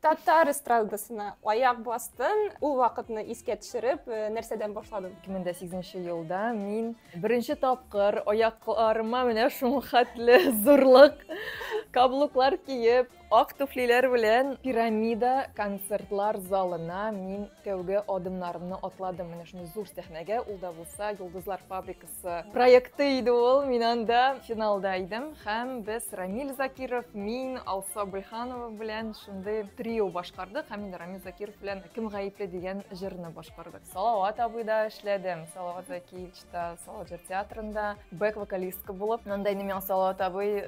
Татар эстрадасына аяк бастым. Ул вакытны искә төшереп, э, нәрсәдән башладым? 2008 елда мин беренче тапкыр аякларыма менә шул хәтле зурлык каблуклар киеп, ак туфлиләр белән пирамида концертлар залына мин тәүге адымнарымны атладым. Менә шундый зур сәхнәгә, ул да булса Йолдызлар фабрикасы проекты иде ул. Мин анда финалда идем һәм без Рамиль Закиров, мин, Алса Быйханова белән шундый трио башкардык һәм инде Рамиль Закиров белән Кем гаепле дигән җырны башкардык. Салават абыйда эшләдем. Салават Закиевичта, Салават җыр театрында бэк вокалистка булып. Анда инде миңа Салават абый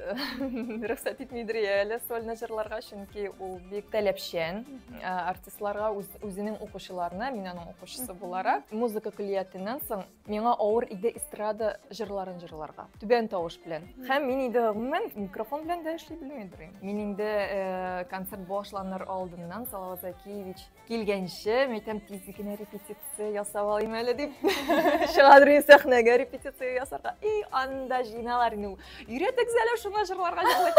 рөхсәт итмидер әле сольно җырларга, чөнки ул бик таләпчән артистларга үзенең укучыларына, мин аның укучысы буларак, музыка көллиятеннән соң Миңа авыр иде эстрада җырларын җырларга. Түбән тавыш белән. Һәм мин инде гомумән микрофон белән дә эшли белми дөрим. Мин инде э, концерт башланыр алдыннан Салават Закиевич килгәнче, мин әйтәм, тиз генә репетиция ясап алыйм әле дип. Чыга дөрим сәхнәгә репетиция ясарга. И анда җыйналар инде. Өйрәтегез әле шуны җырларга җырлый.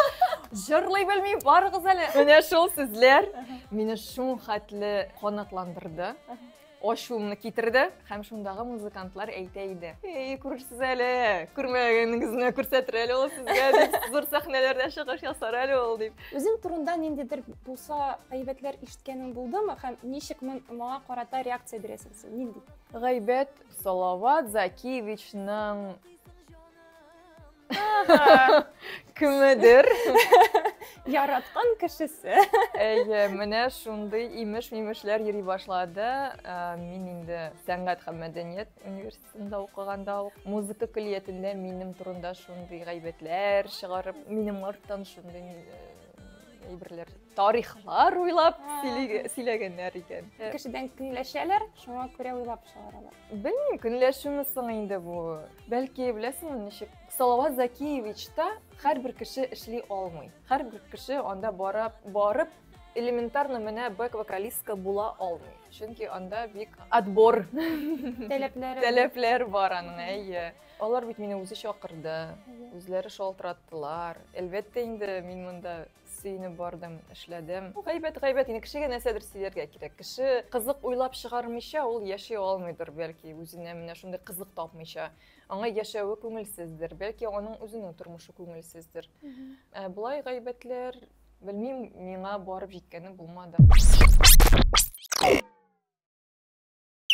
Җырлый белми, барыгыз әле. Менә шул сүзләр мине шул хәтле канатландырды. ачуымны китерде һәм шундагы музыкантлар әйтә иде эй күрерсез әле күрмәгәнегезне күрсәтер әле ул сезгә дип зур сәхнәләрдә чыгыш ясар әле ул дип үзең турында ниндидер булса гайбәтләр ишеткәнең булдымы һәм ничек моңа карата реакция бирәсең син нинди гайбәт салават закиевичның кемедер яраткан кешесе әйе менә шундый имеш мимешләр йөри башлады ә, мин инде сәнгать һәм мәдәният университетында укыганда ук музыка көллиятендә минем турында шундый гайбәтләр чыгарып минем арттан шундый әйберләр тарихлар уйлап сөйләгәннәр икән кешедән көнләшәләр шуңа күрә уйлап чыгаралар Белмим, көнләшүме соң инде бу. Бәлки, беләсеңме ничек? Салават Закиевичта һәрбер кеше эшли алмый. Һәрбер кеше анда барып, барып элементарно менә бэк вокалистка була алмый. Чөнки анда бик отбор таләпләре таләпләр бар аның, әйе. Алар бит мине үзе чакырды, үзләре шалтыраттылар. Әлбәттә инде мин монда сөенеп бардым эшләдем гайбәт гайбәт инде кешегә нәрсәдер сөйләргә кирәк кеше кызык уйлап чыгармыйча ул яши алмыйдыр бәлки үзенә менә шундый кызык тапмыйча аңа яшәве күңелсездер бәлки аның үзенең тормышы күңелсездер ә, болай гайбәтләр белмим миңа барып җиткәне булмады